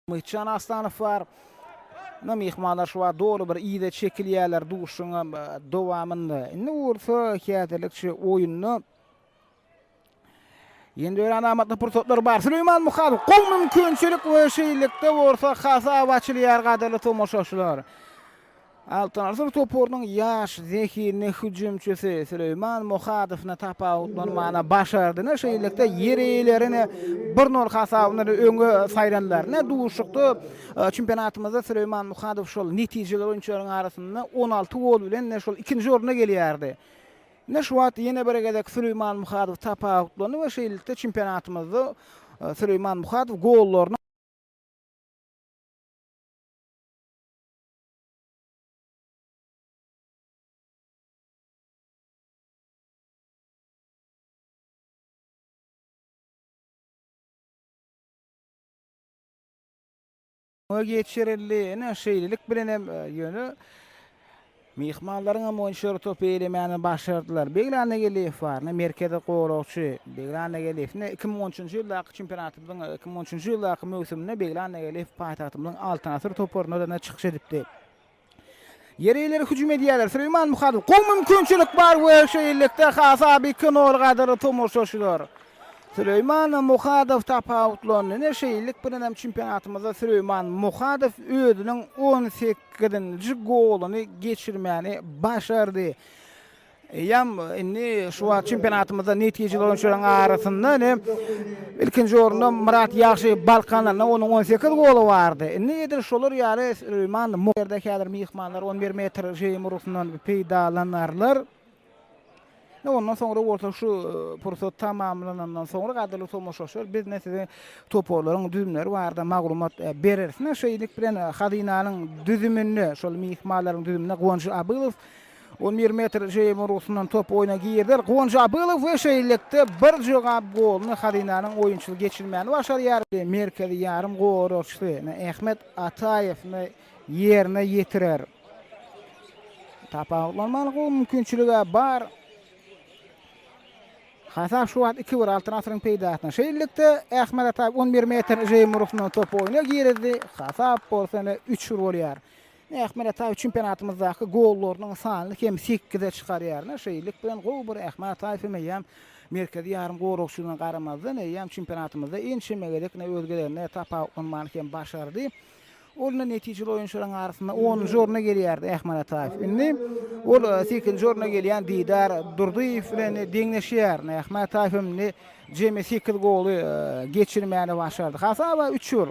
Myhitjan Aslanow bar. Ine myhmanlar şu wagt doly bir yza çekilýärler duşuşygyň dowamynda. Indi bolsa häzirlikçe oýunda Ýene örän amatly pursatlar bar. Süleýman Muhadow gowy mümkinçilik we şeýlelikde bolsa hasap açylýar gadyrly tomaşaçylar. Altyn asyr toparynyň ýaş, zehinli hüjümçisi Süleýman Muhadowyny tapawutlanmagyna başardyny, şeýlelikde, ýer eýelerini bir nol hasabyndan öňe saýlandylar. Ine, duşuşykda çempionatymyzda Süleýman Muhadow şol netijeler oýunçylaryň arasynda on alty gol bilen şol ikinji orunda gelýärdi. Ine, şu wagt ýene bir gezek Süleýman Muhadow tapawutlandy we şeýlelikde çempionatymyzda Süleýman Muhadow gollarynyň Muňa geçirildi. Ine, şeýlelik bilen hem, ýöne Myhmanlaryňam onçary topy elemäni başardylar. Beglan Egeliýew baryna merkezi goragçy. Beglan Egeliýew ine iki müň on üçünji ýyldaky çempionatymyzyň iki müň on üçünji ýyldaky möwsüminde Beglan Egeliýew paýtagtymyzyň Altyn asyr toparynda-da çykyş edipdi. Ýeri ileri hüjüm edýärler. Süleýman Muhadow. Gowy mümkinçilik bar we şeýlelikde Hasaby iki nol gadyr tomaşaçylar. Süleýman Muhadow tapawutlandy. Ine, şeýlelik bilenem çempionatymyzda Süleýman Muhadow özüniň on sekizinji goluny geçirmäni başardy. Eýýäm indi şu wagt çempionatymyzda netijeli oýunçylaryň arasynda ine ilkinji orunda Myrat Ýagşy Balkandan onuň on sekiz goly bardy. Indi edil şolar ýaly Süleýman Mu ýerde häzir myhmanlar on bir metr žeýim urgusyndan peýdalanarlar. Ne ondan soňra bolsa şu pursat tamamlanandan soňra gadyrly tomaşaçylar biz ne size toparlaryň düzümleri barada maglumat bereris. Ne şeýlelik bilen hazynanyň düzüminde şol myhmanlaryň düzüminde Guwanç Abylow on bir metr jeýim urgusyndan top oýna girder. Guwanç Abylow we şeýlelikde bir jogap goluny hazynanyň oýunçysy geçirmäni başarýar. Merkezi ýarym goragçysy Ahmet Ataýew ýerine ýetirer. Tapawutlanmalyk gowy mümkinçiligi bar. Hasap şu wagt 2-1 Altyn asyryň peýdasyna. Şeýlelikde Ahmet Ataýew 11 metr jeýim urusyndan top oýna girdi. Hasap bolsa ine 3-1 bolýar. Ahmet Ataýew çempionatymyzdaky gollarynyň sanyny hem 8-e çykarýar. Şeýlelik bilen gowy bir Ahmet Ataýew hem eýýäm merkezi ýarym goragçylygyna garamazdan eýýäm çempionatymyzda ençeme gezek özgelerine tapawutlanmany hem başardy. Ol-da netijeli oýunçylaryň arasynda onunjy orna gelýärdi, Ähmet Ataýew. Indi ol sekizinji orna gelýän Didar Durdyýew bilen deňleşýär. Ähmet Ataýew hem indi jemi sekiz goly geçirmäni başardy. Hasaba üç gol